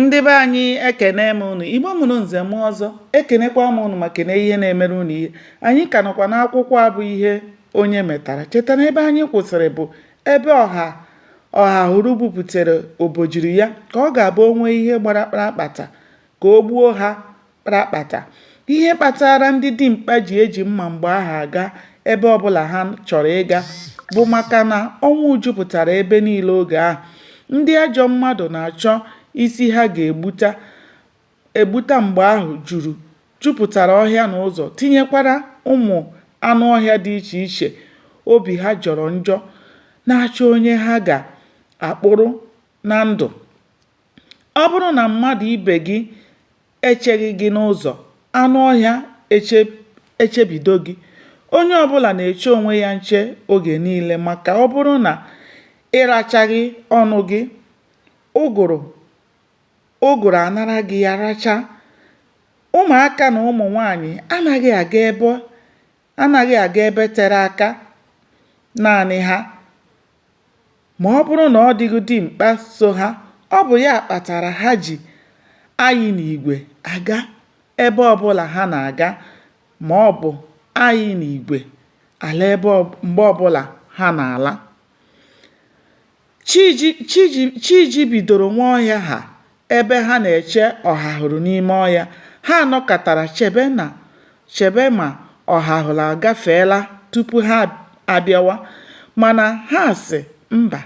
ndị be anyị ekene m unu igbo mụrụ nze mụọ ọzọ ekenekwa m unu ma kene ihe na-emere unu ihe anyị ka nọkwa n'akwụkwọ a bụ ihe onye metara cheta na ebe anyị kwụsịrị bụ ebe ọha ọhahụrụ bupụtara obejiri ya ka ọ ga-abụ o nwee ihe gbara kprakpata ka o gbuo ha kprakpata. Ihe kpatara ndị dimkpa ji eji mma mgbe ahụ aga ebe ọbụla ha chọrọ ịga bụ maka na ọnwụ jupụtara ebe niile oge ahụ. Ndị ajọ mmadụ na-achọ isi ha ga-egbuta egbuta mgbe ahụ juru jupụtara ọhịa na ụzọ tinyekwara ụmụ anụ ọhịa dị iche iche obi ha jọrọ njọ na-achọ onye ha ga-akpụrụ na ndụ. Ọ bụrụ na mmadụ ibe gị echeghị gị n'ụzọ, anụ ọhịa echebido gị. Onye ọbụla na-eche onwe ya nche oge niile maka ọ bụrụ na ị rachaghị ọnụ gị, ụgụrụ anara gị ya racha. Ụmụaka na ụmụ nwaanyị anaghị aga ebe anaghị aga ebe tere aka naanị ha ma ọ bụrụ na ọ dịghị dimkpa so ha, ọ bụ ya kpatara ha ji ayị n'igwe aga ebe ọbụla ha na-aga ma ọ bụ ayị n'igwe ala mgbe ọbụla ha na-ala. Chi jibidoro Nwaọhịa ha ebe ha na-eche Ọhahụrụ n'ime ọhịa. Ha nọkatara chebe na chebe ma Ọhahụrụ agafeela tupu ha abịawa. Mana ha sị mba,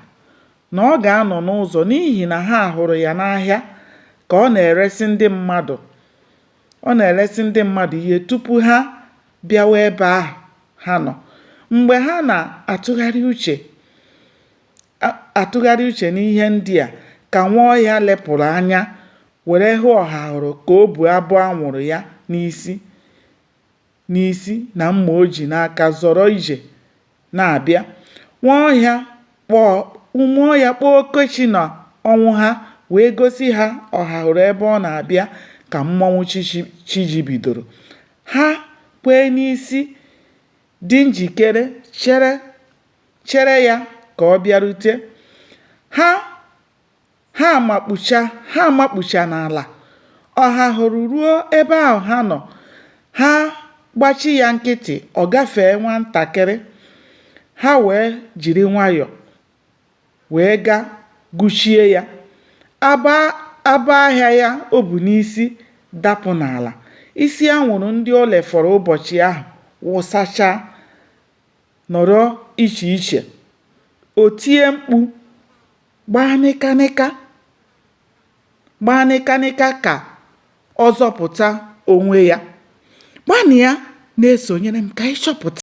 na ọ ga-anọ n'ụzọ n'ihi na ha hụrụ ya n'ahịa ka ọ na-eresị ndị mmadụ. Ọ na-eresị ndị mmadụ ihe tupu ha bịawa ebe ahụ ha nọ. Mgbe ha na-atụgharị uche atụgharị uche n'ihe ndị a ka Nwaọhịa lepụrụ anya were hụ Ọhahụrụ ka o bu abọ anwụrụ ya n'isi n'isi na mma o ji n'aka zọrọ ije na-abịa. Nwaọhịa kpọọ Nwaọhịa kpọọ Okechi na Ọnwụha wee gosi ha Ọhahụrụ ebe ọ na-abịa ka mmọnwụ chi jibidoro. Ha kwee n'isi dị njikere chere ya ka ọ bịarute. Ha Ha amakpu ha amakpucha n'ala. Ọhahụrụ ruo ebe ahụ ha nọ. Ha gbachi ya nkịtị, ọ gafee nwantakịrị. Ha wee jiri nwayọọ wee gaa gụchie ya. Abọ ahịa ya o bu n'isi dapụ n'ala. Isi anwụrụ ndị o lefọrọ ụbọchị ahụ wụsachaa nọrọ iche iche. O tie mkpu Gbaa nịkanịka Gbaa nịkanịka ka ọ zọpụta onwe ya. Gbanịa na-esonyere m ka anyị chọpụta.